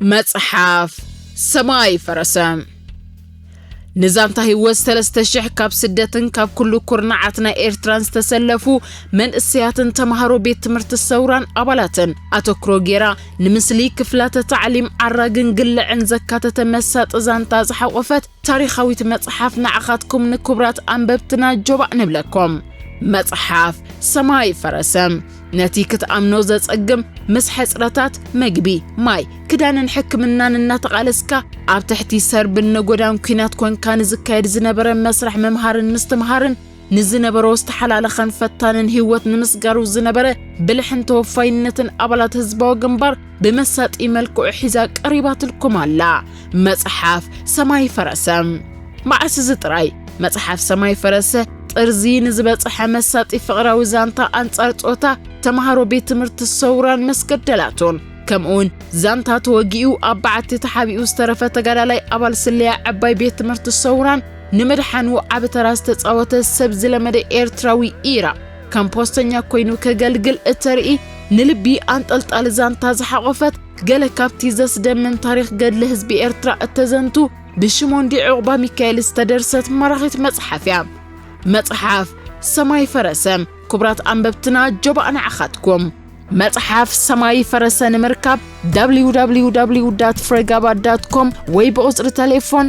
መጽሓፍ ሰማይ ፈረሰ ንዛንታ ህይወት ሰለስተ ሽሕ ካብ ስደትን ካብ ኩሉ ኩርናዓት ናይ ኤርትራን ዝተሰለፉ መንእሰያትን ተምሃሮ ቤት ትምህርቲ ሰውራን ኣባላትን ኣተክሮ ጌራ ንምስሊ ክፍላተ ታዕሊም ዓራግን ግልዕን ዘካተተ መሳጢ ዛንታ ዝሓቖፈት ታሪኻዊት መጽሓፍ ንዓኻትኩም ንክቡራት ኣንበብትና ጆባእ ንብለኩም መጽሓፍ ሰማይ ፈረሰ ነቲ ክትኣምኖ ዘጸግም ምስ ሕጽረታት መግቢ፣ ማይ፣ ክዳንን ሕክምናን እናተቓለስካ ኣብ ትሕቲ ሰርብን ነጎዳን ኲናት ኮንካ ንዝካየድ ዝነበረ መስርሕ ምምሃርን ምስትምሃርን ንዝነበሮ ዝተሓላለኸን ፈታንን ህይወት ንምስጋሩ ዝነበረ ብልሕን ተወፋይነትን ኣባላት ህዝባዊ ግንባር ብመሳጢ መልክዑ ሒዛ ቀሪባትልኩም ኣላ መጽሓፍ ሰማይ ፈረሰ። መዓስ እዚ ጥራይ መጽሓፍ ሰማይ ፈረሰ ጥርዚ ንዝበጽሐ መሳጢ ፍቕራዊ ዛንታ ኣንጻር ጾታ ተማሃሮ ቤት ትምህርቲ ሰውራን መስገደላቱን ከምኡውን ዛንታ ተወጊኡ ኣብ በዓቲ ተሓቢኡ ዝተረፈ ተጋዳላይ ኣባል ስለያ ዓባይ ቤት ትምህርቲ ሰውራን ንምድሓኑ ዓቢ ተራ ዝተጻወተ ሰብ ዝለመደ ኤርትራዊ ኢራ ከም ፖስተኛ ኮይኑ ከገልግል እተርኢ ንልቢ ኣንጠልጣሊ ዛንታ ዝሓቖፈት ገለ ካብቲ ዘስደምም ታሪኽ ገድሊ ህዝቢ ኤርትራ እተዘንቱ ብሽሞንዲ ዕቑባ ሚካኤል ዝተደርሰት ማራኺት መጽሓፍ እያ። መጽሓፍ ሰማይ ፈረሰ ክቡራት ኣንበብትና ጆባእ ንዓኻትኩም መጽሓፍ ሰማይ ፈረሰ ንምርካብ www ፍሬጋባ ኮም ወይ ብቑጽሪ ተሌፎን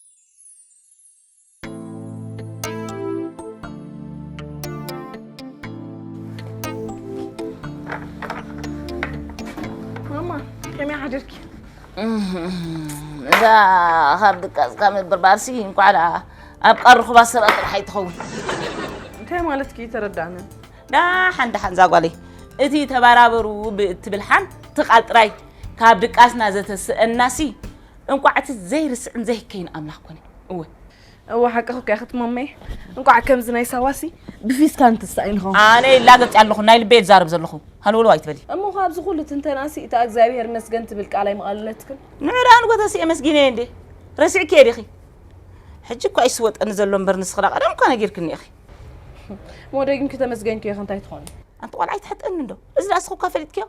እዛ ካብ ድቃስ ካብ ምብርባርሲ እንኳዕ ደኣ ኣብ ቀርኹባ ስረ ጥራሕ ኣይትኸውን እንታይ ማለት ኪ ተረዳእነ ዳሓን ዳሓን ዛጓለይ እቲ ተባራበሩ ብእትብል ሓንቲ ቃል ጥራይ ካብ ድቃስና ዘተስእናሲ እንቋዕ እቲ ዘይርስዕን ዘይከይን ኣምላኽ ኮነ እወ እወ ሓቅኺ እኮ ያኽት ማመይ እንቋዕ ከምዚ ናይ ሳዋሲ ብፊስካ እንትስኣይንኹ ኣነ ይላገጥ ኣለኹ ናይ ልበይ ዝዛረብ ዘለኹ ሃልወልዋ ኣይትበሊ እሞ ካብዚ ኩሉ ትንተናሲ እታ እግዚኣብሄር መስገን ትብል ቃል ኣይምቓለለትክን ንዕዳ ንጎተሲ የመስጊነ እየ እንዴ ረሲዕኪ እየ ዲኺ ሕጂ እኳ ይስወጠኒ ዘሎ እምበር ንስኺ ዳ ቀደም እኳ ነጊርክኒ ኢኺ ሞደግን ክተመስገንኪ እየ እንታይ ትኾኒ ኣንቲ ቆልዓ ኣይትሕጠኒ እንዶ እዚ ዳኣ ንስኺ እኳ ፈሊጥክዮ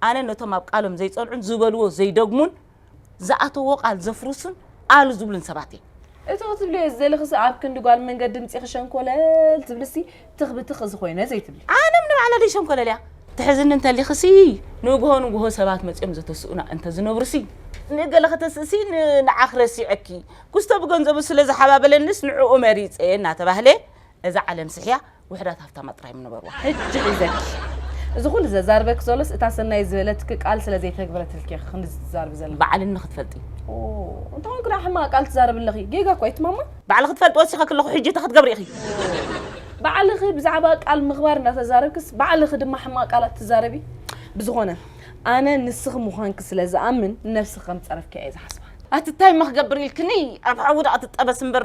ኣነ ነቶም ኣብ ቃሎም ዘይጸንዑን ዝበልዎ ዘይደግሙን ዝኣተዎ ቃል ዘፍርሱን ኣሉ ዝብሉን ሰባት እዮም። እቲ ክትብልዮ ዝደለኽሲ ኣብ ክንዲ ጓል መንገድ ድምፂኺ ሸንኮለል ትብልሲ ትኽ ብትኽ እዚ ኮይነ ዘይትብሊ። ኣነ ም ንባዕለለይ ሸንኮለል እያ ትሕዝኒ እንተሊኽሲ ንጉሆ ንጉሆ ሰባት መፂኦም ዘተስኡና እንተዝነብሩሲ ንገለ ከተስእሲ ንዓኽ ረሲዐኪ ኩስቶ ብገንዘቡ ስለዝሓባበለኒስ ንዕኡ መሪፀ እናተባህለ እዛ ዓለም ስሕያ ውሕዳት ሃፍታማት ጥራይ እዮም ነበርዋ። ሕጂ ሒዘኪ። እዚ ኩሉ ዘዛርበኪ ዘሎስ እታ ሰናይ ዝበለትኪ ቃል ስለ ዘይተግብረትልኪ ኢኺ ክንድዚ ትዛርቢ ዘለኺ። ባዕልኒ ክትፈልጢ። ኦው እንተ ኾንኩ ደኣ ሕማቕ ቃል ትዛረቢ ኣለኺ። ጌጋ እኮ ኢዩ ማማ። ባዕልኺ ትፈልጢ ወሲኸኪ ኣለኹ ሕጂ እንታይ ክትገብሪ ኢኺ? ባዕልኺ ብዛዕባ ቃል ምኽባር እንዳተዛረብክስ ባዕልኺ ድማ ሕማቕ ቃላት ትዛረቢ። ብዝኾነ ኣነ ንስኺ ምዃንኪ ስለ ዝኣምን ንነብስኺ ከም ዝጸረፍክያ ኢየ ዝሓስባ። ኣቲ ታይ እማ ክገብር ኢልክኒ ኣብ ሓዊ ደኣ ትጠበስ እምበር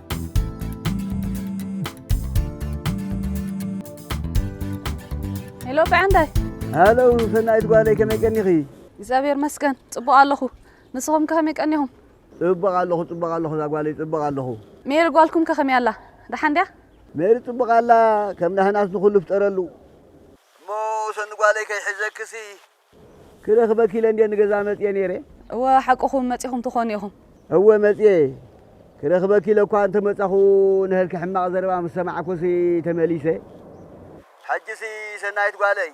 ሄሎ ብዕንዳይ ሃሎ ሰናይት ጓለይ ከመይ ቀኒኺ? እግዚኣብሔር መስገን ጽቡቕ ኣለኹ። ንስኹም ከ ከመይ ቀኒኹም? ጽቡቕ ኣለኹ ጽቡቕ ኣለኹ እዛ ጓለይ ጽቡቕ ኣለኹ። ሜሪ ጓልኩም ከ ከመይ ኣላ? ደሓን ድያ? ሜሪ ጽቡቕ ኣላ ከም ናህናስ ንኹሉ ፍጠረሉ። እሞ ሰኒ ጓለይ ከይሕዘክሲ ክረኽበኪ ኢለ እንድየ ንገዛ መጽየ ነይረ። እወ ሓቅኹም መጺኹም ትኾኑ ኢኹም። እወ መጽየ ክረኽበኪ ኢለ እኳ እንተ መጻኹ ንሀልኪ ሕማቕ ዘረባ ምስ ሰማዕኩሲ ተመሊሰ። ሕጂሲ ሰናይት ጓለይ!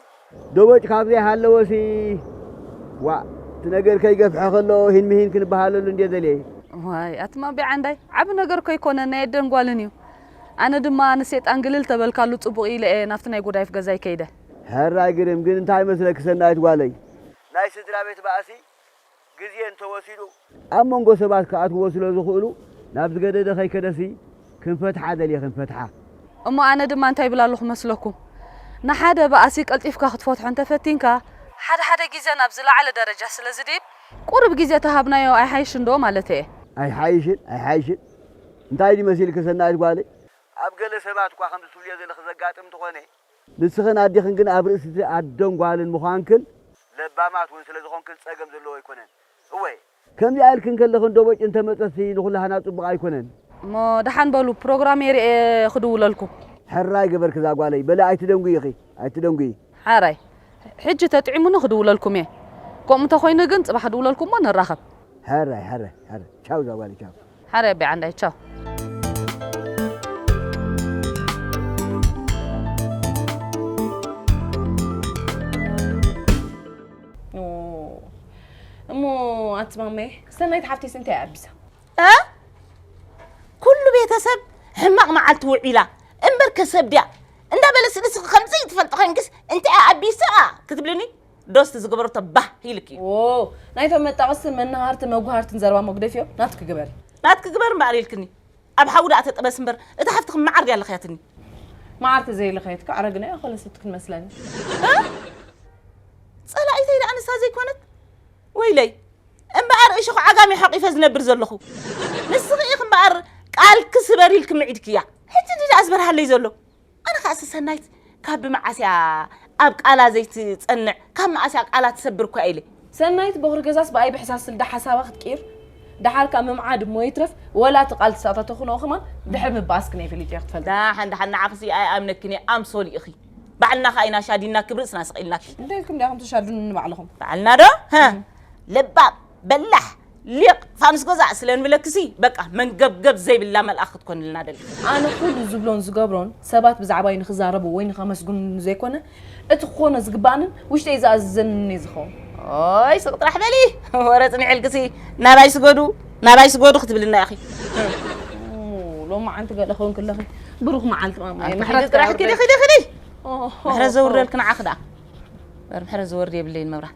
ደቦጭ ካብ ዘይሃለወሲ ዋእ እቲ ነገር ከይገፍሐ ከሎ ሂን ምሂን ክንበሃለሉ እንድየ ደልየ። ዋይ ኣቲ ማቤ ዓንዳይ ዓቢ ነገር እኮ ኣይኮነን ናይ ኣደን ጓልን እዩ። ኣነ ድማ ንሴጣን ግልል ተበልካሉ ጽቡቕ ኢለ እየ ናብቲ ናይ ጉዳይፍ ገዛይ ከይደ። ሕራይ ግርም ግን እንታይ ይመስለኪ ሰናይት ጓለይ? ናይ ስድራቤት ባእሲ ግዜ እንተወሲዱ። ኣብ መንጎ ሰባት ክኣትዎ ስለ ዝኽእሉ ናብ ዝገደደ ከይከደሲ ክንፈትሓ ደልየ ክንፈትሓ። እሞ ኣነ ድማ እንታይ ይብል ኣለኹ መስለኩም? ንሓደ ባእሲ ቀልጢፍካ ክትፈትሖ እንተፈቲንካ። ሓደ ሓደ ግዜ ናብ ዝለዓለ ደረጃ ስለ ዝድይብ ቁሩብ ግዜ ተሃብናዮ ኣይሓይሽን ዶ ማለተይ እየ። ኣይሓይሽን ኣይሓይሽን እንታይ ድዩ መሲልኪ ሰናይት ጓለይ? ኣብ ገለ ሰባት እኳ ከምዚ ትብልዮ ዘለኺ ዘጋጥም እንተኾነ። ንስኽን ኣዴኽን ግን ኣብ ርእሲ'ቲ ኣደን ጓልን ምዃንክን፣ ለባማት ውን ስለዝኾንክን ጸገም ዘለዎ ኣይኮነን። እወ! ከምዚኣ ኢልክን ከለኽን ዶቦጭ እንተመጸትሲ ንኹላህና ጽቡቕ ኣይኮነን። እሞ ደሓን በሉ ፕሮግራመይ ርእየ ክድውለልኩም። ሕራይ ገበርኪ ዛጓለይ፣ በሊ ኣይትደንጉዪ ኢኺ፣ ኣይትደንጉዪ። ሕራይ ሕጂ ተጥዒሙኒ ክድውለልኩም'የ፣ ከምኡ እንተኾይኑ ግን ጽባሕ ክድውለልኩም'ሞ ንራኸብ። ሕራይ ሕራይ ሕራይ ቻው ዛጓለይ ቻው። ሓረይ ኣቢ ዓንዳይ ቻው። ኣንቲ ማመየ ሰናይት ሓፍተይስ እንታይ እያ ኣቢሳ ኩሉ ቤተሰብ ሕማቕ መዓልቲ ውዒላ እምበር ከሰብ ድያ እንዳበለስ ንስኺ ከምዘይትፈልጢ ኮይንክስ እንታይ እያ ኣቢሳ ክትብልኒ ዶስቲ ዝገበረቶ ባህ ኢልኪ። ዎው ናይቶም መጣቕስትን መናሃርትን መጉሃርትን ዘረባ መጉደፊኦም ናትኪ ግበሪ። ናትኪ ግበሪ እምበኣር ኢልክኒ ኣብ ሓዊ ደኣ ተጠበሲ እምበር እታ ሓፍትኺ መዓር ድያ ለኽያትኒ። መዓር ተዘይለኸየት ከ ኣረግናዮ ኣኾለሰት ክንመስለኒ። ጸላኢተይ ደኣ ንሳ ዘይኮነት ወይለይ እምበኣር እሾኽ ዓጋመ እዩ ሓቂፈ ዝነብር ዘለኹ። ንስኺ ኢኺ እምበኣር ቃልኪ ስበሪ ኢልኪ ምዒድክያ ሕጂ እንድዩ ደኣ ዝበርሃለይ ዘሎ። ኣነ ከኣ ሰሰናይት ካብ ብመዓስ እያ ኣብ ቃላ ዘይትጸንዕ ካብ መኣስ እያ ቃላ ትሰብር እኳ ኢለ። ሰናይት ቦኽሪ ገዛስ ብኣይ ብሕሳስ ስልዲ ሓሳባ ክትቅይር ደሓር ከኣ ምምዓድ እሞ ይትረፍ ወላ እቲ ቃል ትሳእታ ተኹንኦ ከማን ድሕር ምበኣስ ክነይ ፈሊጠዮ ክትፈልጢ። ዳሓን ዳሓን ንዓኽሲ ኣይኣምነክን እየ ኣምሶል ኢኺ ባዕልና ከኣ ኢና ሻዲንና ክብ ርእስና ሰቂልናኪ። እንታይ ኢልኩም ዲኣኹም ትሻዱኑኒ ባዕልኹም። ባዕልና ዶ? ህህ ለባም በላሕ ሊቅ ፋኑስ ገዛ ስለ ንብለኪሲ በቃ መንገብገብ ዘይብላ መልኣክ ክትኮንልና ደሊ። ኣነ ኩሉ ዝብሎን ዝገብሮን ሰባት ብዛዕባይ ንኽዛረቡ ወይ ንኸመስግኑኒ ዘይኮነ እቲ ክኾኖ ዝግባኣንን ውሽጠይ ዝኣዝዘንን እየ ዝኸውን። ኦይ ስቅ ጥራሕ በሊ ወረ ጽኒሕልኪሲ ናባይ ስገዱ ናባይ ስገዱ ክትብልና ኢኺ። ኡም ሎማዓንቲ ገለ ክኮንኪ ኣለኺ ብሩኽ መዓልቲ ማማየ ኣንተ ኪዲ ምሕረትኪ ጥራሕ ኪዲ የውርደልኪ። ኪዲ ኪዲ ኦሆ። ምሕረት ዘውርደልኪ ንዓኺ ደኣ እምበር ምሕረት ዝወርድ የብለይን መብራት።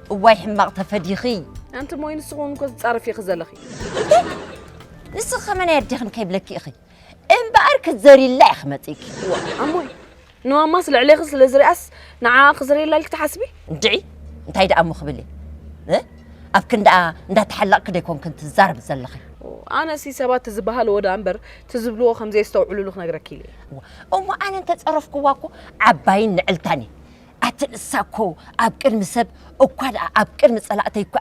እዋይ ሕማቕ ተፈዲኺ። ኣንቲ ሞይ ንስኺ ውን እኮ ዝጻረፍ ኢኺ ዘለኺ። ንስኺ ከመ ናይ ኣዴኽን ከይብለኪ ኢኺ እምበኣር ክትዘርይላ ኢኺ መጺእኪ። ኣሞይ ንማማስ ልዕሌኺ ስለ ዝሪኣስ ንዓኣ ክዝርየላ ኢልኪ ትሓስቢ? እንድዒ እንታይ ደኣ እሞ ክብል እየ ኣብ ክንዳኣ እንዳተሓለቕኪ ዶ ኣይኮንክን ትዛረቢ ዘለኺ። ኣነሲ ሰባት ትዝበሃልዎ ደኣ እምበር ትዝብልዎ ከምዘየስተውዕልሉ ክነግረኪ ኢለ እየ። እሞ ኣነ እንተጸረፍክዋ እኮ ዓባይን ንዕልታን እየ ኣቲ ንሳ እኮ ኣብ ቅድሚ ሰብ እኳ ደኣ ኣብ ቅድሚ ጸላእተይ እኳ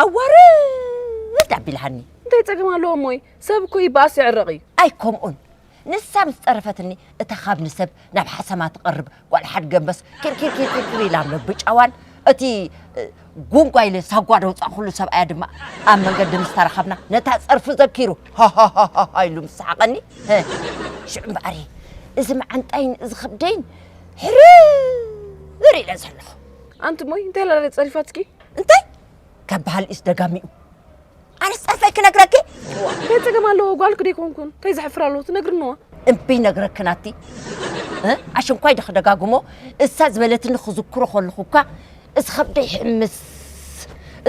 ኣዋርድ ኣቢልሃኒ። እንታይ ጸገም ኣለዎ እሞይ ሰብ እኮ ይበኣስ ይዕረቕ እዩ። ኣይ ከምኡን ንሳ ምስ ጠረፈትኒ እታ ካብ ንሰብ ናብ ሓሰማ ትቐርብ ጓል ሓድ ገንበስ ኪርኪርኪርኪር ኢላ ምብጫዋን እቲ ጉንጓ ኢለ ሳጓ ደውጻኹሉ ሰብኣያ ድማ ኣብ መንገዲ ምስ ተራኸብና ነታ ጸርፊ ዘኪሩ ሃሃሃሃ ኢሉ ምስ ሰሓቐኒ ሽዑ እምበኣር እዚ መዓንጣይን እዚ ከብደይን ሕርር ኢለ ዘለኹ ኣንቲ እሞይ እንታይ ላለ ጸሪፋትኪ እንታይ ከባሃል ኢስ ደጋሚኡ ኣነ ጸርፈይ ክነግረኪ እንታይ ጸገም ኣለዎ ጓልክ ደይኮንኩን እንታይ ዘሕፍር ኣለዎ ትነግርንዋ እምቢ ነግረኪ ናቲ ኣሽንኳይ ዶ ክደጋግሞ እሳ ዝበለትኒ ክዝክሮ ከለኹ እኳ እዚ ከብደይ ይሕምስ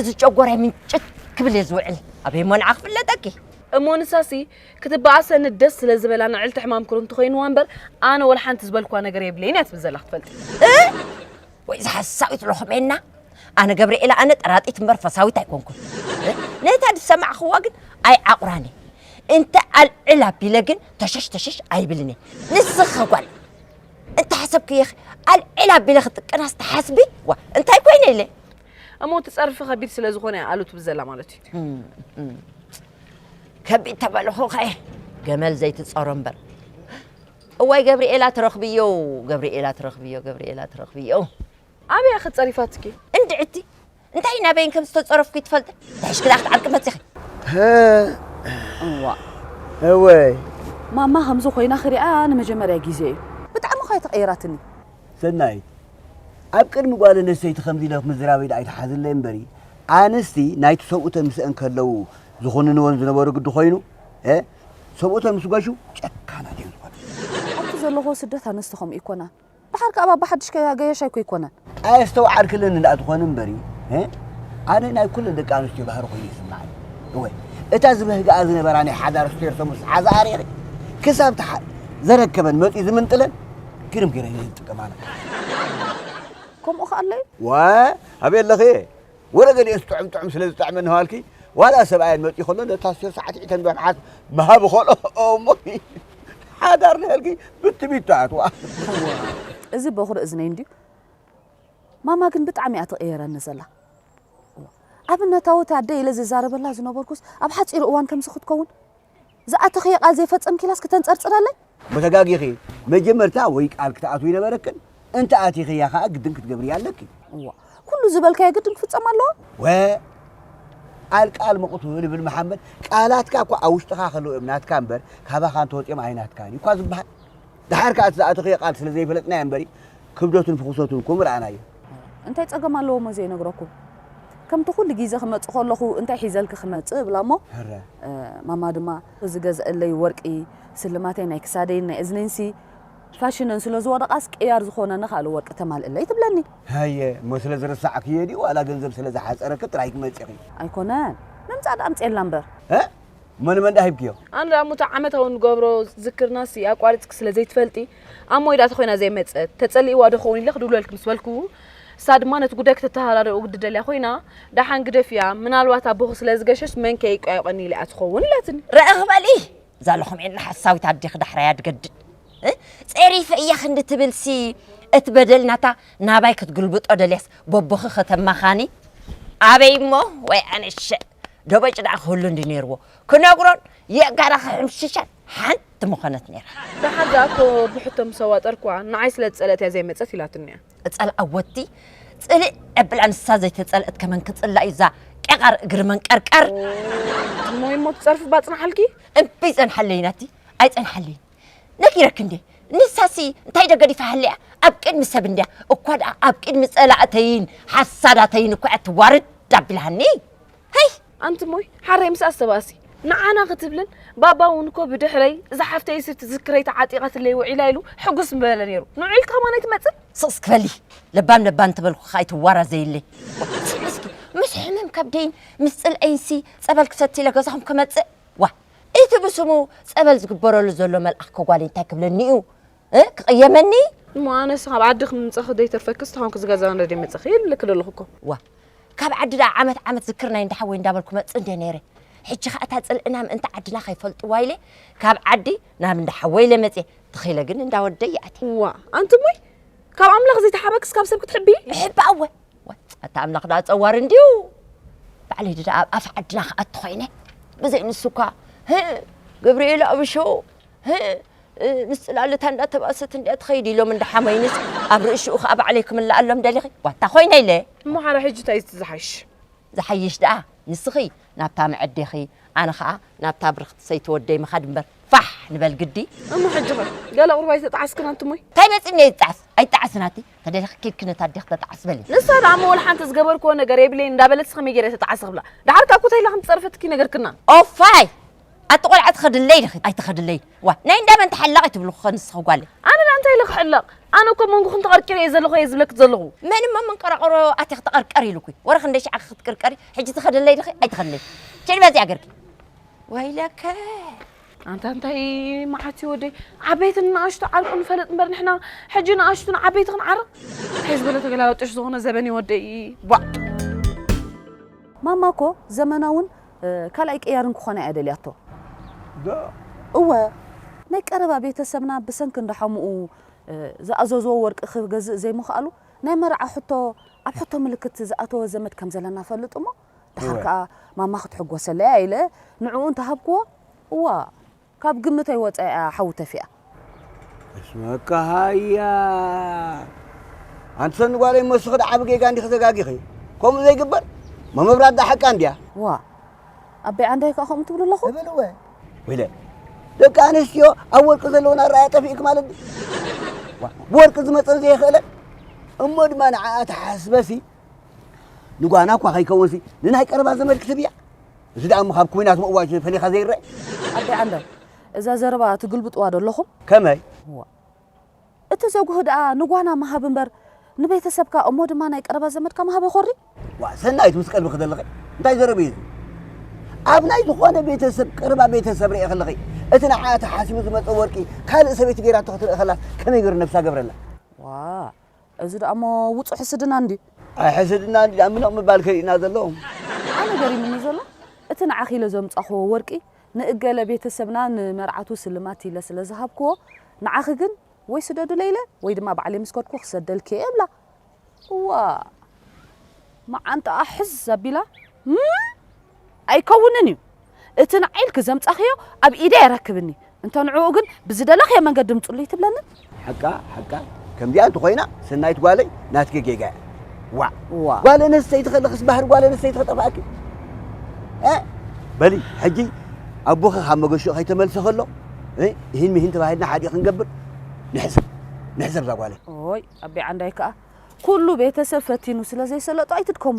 እዚ ጨጎራይ ምንጭት ክብል እየ ዝውዕል ኣበይ ሞንዓ ክፍለጠኪ እሞ ንሳሲ ክትበኣሰኒ ደስ ስለ ዝበላ ንዕልቲ ሕማም ኩርምቲ ኮይንዋ እምበር ኣነ ወላ ሓንቲ ዝበልክዋ ነገር የብለይን እያ ትብል ዘላ ክትፈልጥ ወይ እዛ ሓሳዊት ሎኽሜና ኣነ ገብርኤል ኣነ ጠራጢት እምበር ፈሳዊት ኣይኮንኩን ነታ ዝሰማዕኽዋ ግን ኣይዓቑራን እየ እንተ ኣልዕል ኣቢለ ግን ተሸሽ ተሸሽ ኣይብልን እየ ንስኺ ጓል እንተ ሓሰብክየ ኣልዕል ኣቢለ ክጥቀናስ ትሓስቢ ዋ እንታይ ኮይነ ኢለ እሞ እቲ ፀርፊ ከቢድ ስለ ዝኾነ ኣሉ ትብል ዘላ ማለት እዩ ከቢድ ተበልኹ ከ ገመል ዘይትጸሮ እምበር እዋይ ገብርኤላ ትረኽብዮ ገብርኤላ ትረኽብዮ ገብርኤላ ትረኽብዮ ኣበያ ክጸሪፋትኪ እንድዕቲ እንታይ ናበይን ከም ዝተጸረፍኩ ይትፈልጥ ብሕሽክላ ክትዓርቂ መጺኺ እዋ እወይ ማማ ከምዚ ኮይና ክሪኣ ንመጀመርያ ግዜ እዩ ብጣዕሚ ኳ ተቐይራትኒ ሰናይት፣ ኣብ ቅድሚ ጓል ኣነስተይቲ ከምዚ ኢለ ምዝራበይ ድኣ ኣይትሓዝለይ እምበሪ ኣንስቲ ናይቲ ሰብኡተን ምስአን ከለዉ ዝኹንንወን ዝነበሩ ግዲ ኮይኑ ሰብኡተን ምስ ገሹ ጨካናት እየን ዝኾና። ኣብቲ ዘለኹዎ ስደት ኣንስቲ ከምኡ ኣይኮናን። ድሓር ከኣ ባባ ሓድሽ ከያ ገያሽ ኣይኮ ኣይኮነን። ኣየስተውዓልክልን እንዳ ትኾኒ እምበሪ ኣነ ናይ ኩለን ደቂ ኣንስትዮ ባህሪ ኮይኑ ይስምዓኒ። እወ እታ ዝበህግኣ ዝነበራ ናይ ሓዳር ስቴርቶ ምስ ሓዝኣ ሪኺ ክሳብ ዘረከበን መጺኡ ዝምንጥለን ግርም ገይረ እየ ዝጥቀም ኣነ ከምኡ ከ ኣለዩ ዋይ ኣበይ ኣለኺ እየ ወረ ገሊኦስ ጥዑም ጥዑም ስለ ዝጠዕመኒ ሃልኪ ዋላ ሰብኣየን መፅኡ ከሎ ነታ ስር ሳዕስዒተ ንበርሓት ምሃብ ኸሎ እሞ ሓዳር ንህልኪ ብትቢት ትኣትዋ እዚ በኹሪ እዝነይ እንድዩ ማማ ግን ብጣዕሚ እያ ትቕየረኒ ዘላ ኣብነታዊት ኣደ ኢለ ዝዛረበላ ዝነበርኩስ ኣብ ሓፂሩ እዋን ከምዚ ክትከውን ዝኣተኽዮ ቃል ዘይፈጸምኪላስ ክተንጸርጽረለይ? ተጋጊኺ መጀመርታ ወይ ቃል ክትኣትዊ ነበረክን እንተ ኣቲኽያ ከኣ ግድን ክትገብርያ ኣለኪ። እዋ ኩሉ ዝበልካዮ ግድን ክፍጸም ኣለዎ? ወ ቃል ቃል መቕቱል ይብል መሓመድ። ቃላትካ እኳ ኣብ ውሽጥኻ ከለዉ እዮም ናትካ እምበር ካባኻ እንተወጺኦም ኣይናትካን እዩ እኳ ዝበሃል። ደሓር ከኣ እቲ ዝኣተኽዮ ቃል ስለ ዘይፈለጥናዮ እምበሪ ክብደቱን ፍኹሰቱን እኮ ምረኣናዮ። እንታይ ጸገም ኣለዎሞ ዘይነግረኩ ከምቲ ኩሉ ጊዘ ክመጽእ ከለኩ እንታይ ሒዘልኪ ክመጽእ እብላ እሞ ማማ ድማ እዚ ገዘእለይ ወርቂ ስልማተይ ናይ ክሳደይን ናይ እዝነይንሲ ፋሽነን ስለ ዝወደቃስ ቅያር ዝኮነኒ ካልእ ወርቂ ተማልእለይ ትብለኒ። ሃየ እሞ ስለ ዝረሳዕክዮ ድዩ ዋላ ገንዘብ ስለ ዝሓጸረኪ ጥራይ ትመጺኪ። ኣይኮነን ምምጻእ ድኣ ኣምጽኤላ እምበር። እሞ ንመን ደኣ ሂብክዮ? ኣነ ደኣ እሞ እቲ ዓመታዊ እንገብሮ ዝክርናሲ ኣቋሪጽኪ ስለ ዘይትፈልጢ ኣብ ሞይ ደኣ ተኾይና ዘይመጸት፣ ተጸሊእዋ ዶ ክኸውን ኢለ ክድውለልኪ ምስ በልኩ ንሳ ድማ ነቲ ጉዳይ ክተተሃዳድኦ ግዲ ደልያ ኮይና ደሓን ግደፍያ ምናልባት ኣቦኺ ስለ ዝገሸስ መን ከ ይቋየቖኒ ኢላ'ያ ትኸውን ኢላትኒ። ርዕኽ በሊ እዛ ሎኹም ዒላ ሓሳዊት ኣዴኺ ዳሕራያ ትገድድ ጸሪፈ እያ ክንዲ ትብልሲ እቲ በደል ናታ ናባይ ክትግልብጦ ደልያስ በቦኺ ከተማኻኒ ኣበይ እሞ ወይ ኣነሸ ደበጭ ደኣ ክህሉ እንዲ ነይርዎ ክነግሮን የእጋራ ክሕምሽሸን ሓንቲ ምኾነት ነይራ። ደሓር ደኣ እኮ ብሕቶ ምስ ኣዋጠርኩዋ ንዓይ ስለ ዝጸልአት እያ ዘይመጸት ኢላትኒ እያ። እጸልኣ ወዲ ጽልእ ዕብላ ንሳ ዘይተጸልእት ከመን ክጽላእ እዩ እዛ ቄቓር እግሪ መንቀርቀር። እሞ እሞ ትጸርፊ ባጽንሓልኪ። እምበይ ጸንሓለይ ናቲ ኣይጸንሓለይን። ነጊረኪ እንዴ ንሳሲ እንታይ ዶ ገዲፋ ሃልያ ኣብ ቅድሚ ሰብ እንድያ እኳ ደኣ ኣብ ቅድሚ ጸላእተይን ሓሳዳተይን እኳ እያ ትዋርድ ኣቢላኒ ሀይ ኣንቲ እሞይ ሓረይ ምስ ኣሰባሲ ንዓና ክትብልን ባባ እውን እኮ ብድሕረይ እዛ ሓፍተይ ስብ ትዝክረይ ተዓጢቓትለይ ውዒላ ኢሉ ሕጉስ ምበለ ነይሩ ንዑ ኢልካ ማን ኣይትመፅን ስቕስ ክበሊ ለባም ለባም እንተበልኩኻ ኣይትዋራዘይለይ ወሓቲ ሕዝኪ ምስ ሕመም ከብደይን ምስ ፅልኣይንሲ ፀበል ክሰቲ ኢለ ገዛኹም ክመፅእ ዋ እቲ ብስሙ ጸበል ዝግበረሉ ዘሎ መልኣኽ ከጓኒ እንታይ ክብለኒ እዩ ክቕየመኒ እሞ ኣነስ ካብ ዓዲ ክምምፀኺ ዘይተርፈክስ ተኾንክ ዝገዛ ነደ መፀኺ ይብልክ ዘለኹ እኮ ዋ ካብ ዓዲ ደኣ ዓመት ዓመት ዝክር ናይ እንዳሓወይ እንዳበልኩ መፅእ እንደ ነይረ ሕጂ ከዓ እታ ፅልእና ምእንቲ ዓድና ከይፈልጥዋ ኢለ ካብ ዓዲ ናብ እንዳሓወይ ኢለ መፅየ ተኺለ ግን እንዳወደይ ይኣትየ ዋ ኣንቲ እሞይ ካብ ኣምላኽ ዘይተሓበክስ ካብ ሰብ ክትሕቢ ሕባእወ ኣታ ኣምላኽ ደኣ ጸዋር እንድዩ ባዕለይ ደኣ ኣብ ኣፍ ዓድና ክኣቲ ኮይነ ብዘይ ንሱ እኳ ግብርኤል ኣብሾ ምስ ጽላልታ እንዳተባእሰት እንድያ ትኸይድ ኢሎም እንዳሓመይንስ ኣብ ርእሽኡ ከዓ ባዕለይ ክምልኣሎም ደሊኺ ዋታ ኮይነ ኢለ እሞ ሓራ ሕጂ እንታይ እቲ ዝሓይሽ ዝሓይሽ ደኣ ንስኺ ናብታ መዐዴኺ ኣነ ከዓ ናብታ ብርኽቲ ሰይቲ ወደይ ምኻድ እምበር ፋሕ ንበል ግዲ እሞ ሕጂ ኸ ገለ ቁርባይ ተጣዓስክን ኣንትሞይ እንታይ መጺኒ እየ ዝጣዓስ ኣይጣዓስን ኣቲ ተደሊኺ ኬድኪ ነታ ኣዴኺ ተጣዕሲ በሊ። ንሳ ደኣ እሞ ወልሓንቲ ዝገበርክዎ ነገር የብለይን እንዳበለትስ ከመይ ገይረ ተጣዕሲ ክብላ? ደሓር ካብ ኮተይላ ከም ዝጸረፈትኪ ነገርክና። ኦፋይ! ኣቲ ቆልዓ ትኸድለይ ዲኺ ኣይትኸድለይን? ዋእ ናይ እንዳ መን ተሓላቒ ትብልኺ'ኸ ንስኺ ጓለይ? ኣነ ደኣ እንታይ ኢለ ክሕለቕ? ኣነ እኮ ኣብ መንጎኽን ተቐርቂረ እየ ዘለኹ እየ ዝብለኪ ዘለኹ። መን እሞ ኣብ መንቀራቕሮ ኣቲኺ ተቐርቀሪ ኢሉኪ? ወረ ክንደይ ሽዕ'ኸ ክትቅርቀሪ? ሕጂ ትኸድለይ ዲኺ ኣይትኸድለይን? ኬዲ በዚኣ ገርኪ። ወይለከ! ኣንታ እንታይ መዓት እዩ ወደይ ዓበይትን ንኣሽቱ ዓርቁ ንፈልጥ እምበር ንሕና ሕጂ ንኣሽቱ ንዓበይቲ ክንዓርቕ እንታይ ዝበለ ተገላበጦሽ ዝኾነ ዘበን እዩ ወደይ ቧዕ ማማ እኮ ዘመናውን ካልኣይ ቅያርን ክኾና እያ ደልያቶ። ዶ? እወ፣ ናይ ቀረባ ቤተሰብና ብሰንኪ እንዳ ሓሙኡ ዝኣዘዝዎ ወርቂ ክገዝእ ዘይምኽኣሉ ናይ መርዓ ሕቶ ኣብ ሕቶ ምልክት ዝኣተወ ዘመድ ከም ዘለና እፈልጥ እሞ፣ ደሓር ከኣ ማማ ክትሕጎሰለይ'ያ ኢለ ንዕኡ እንተ ሃብክዎ፣ እዋእ! ካብ ግምተይ ወጸኢ'ያ ሓዊ ተፊኣ። እስመ-እካ ሃያ! ኣንቲ ሰኒ ጓለይ መስኺ ደኣ ዓቢ ጌጋ እንዲኺ ተጋጊኺ። ከምኡ ዘይግበር? መመብራት ደኣ ሓቃ እንድያ። ዋእ! ኣበይ ዓንደይ ከኣ ከምኡ ትብሉ ኣለኹም? እብል'ወ። ወይለ! ደቂ ኣንስትዮ ኣብ ወርቂ ዘለወን ኣረኣእያ ጠፊኡኪ ማለት ድዩ? ዋእ! ብወርቂ ዝመጸን ዘይኽእለን እሞ ድማ ንዓኣ ተሓስበሲ። ንጓና እኳ ከይከውንሲ ንናይ ቀረባ ዘመድ ክትብያ እዚ ደኣ እሞ ካብ ኩናት ምእዋጅ ፈሊኻ ዘይረአ ኣቦይ ዓንደር እዛ ዘረባ ትግልብጥዋ ዶ ኣለኹም ከመይ እቲ ዘጉህ ደኣ ንጓና ምሃብ እምበር ንቤተሰብካ እሞ ድማ ናይ ቀረባ ዘመድካ ምሃብ ይኾሪ ዋ ሰናይት ምስ ቀልቢ ክደለኺ እንታይ ዘረብ እዩ ኣብ ናይ ዝኾነ ቤተሰብ ቀረባ ቤተሰብ ርኤ ከለኺ እቲ ንዓ ተሓሲቡ ዝመፀ ወርቂ ካልእ ሰበይቲ ገይራቶ ክትርኢ ከላ ከመይ ገይሩ ነብሳ ገብረላ ዋ እዚ ደኣሞ ውጹእ ሕስድና እንድዩ። ኣይ ሕስድና እንድዩ ደኣ ምንቕ ምባል ከሪኡና ዘሎ። ኣነ ገሪሙኒ ዘሎ እቲ ንዓኺ ኢለ ዘምጻኹዎ ወርቂ ንእገለ ቤተ ሰብና ንመርዓቱ ስልማት ኢለ ስለ ዝሃብኩዎ ንዓኺ ግን ወይ ስደዱለይ ኢለ ወይ ድማ ባዕለይ ምስ ከድኩ ክሰደልኪ'የ እብላ እዋእ መዓንጣኣ ሕዝ ኣቢላ እም ኣይከውንን እዩ እቲ ንዓይ ኢልኪ ዘምጻኽዮ ኣብ ኢደይ ኣይረክብኒ እንተ ንዕኡ ግን ብዝደለኽዮ መንገዲ ምጹሉ ኣይትብለንን? ሓቃ ሓቃ ከምዚኣ እንተኾይና ሰናይት ጓለይ ናትኪ ጌጋ እያ ዋእ ጓል ኣነስተይቲ ከለክስ ባህሪ ጓል ኣነስተይቲ ከጠፍኣኪ በሊ ሕጂ ኣቦኺ ካብ መገሽኡ ከይተመልሰ ከሎ ይህን ምሂን ተባሂልና ሓዲእ ክንገብር ንሕሰብ ንሕሰብ እዛ ጓለይ ኦይ ኣቤ ዓንዳይ ከዓ ኩሉ ቤተሰብ ፈቲኑ ስለ ዘይሰለጦ ኣይትድከሙ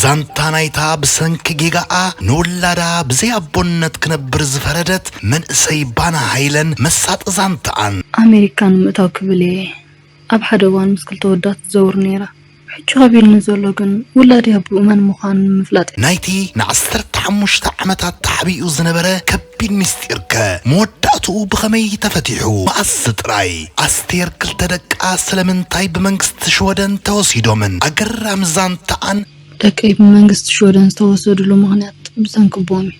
ዛንታ ናይታ ብሰንኪ ጌጋኣ ንውላዳ ብዘይ ኣቦነት ክነብር ዝፈረደት መንእሰይ ባና ሃይለን መሳጢ ዛንታኣን። ኣመሪካ ንምእታው ክብል እየ ኣብ ሓደ እዋን ምስ ክልተ ወዳ ትዘውር ነይራ ሕጂ ከቢድኒ ዘሎ ግን ውላደይ ኣቡኡ መን ምዃኑ ንምፍላጥ እዩ። ናይቲ ንዓሰርተ ሓሙሽተ ዓመታት ተሓቢኡ ዝነበረ ቢን ምስጢርከ መወዳእትኡ ብኸመይ ተፈቲሑ? መኣስ ጥራይ? ኣስቴር ክልተ ደቃ ስለምንታይ ብመንግስቲ ሽወደን ተወሲዶምን? ኣገራሚ ዛንታኣን። ደቀይ ብመንግስቲ ሽወደን ዝተወሰድሉ ምኽንያት ብሰንኪ ቦምብ እዩ።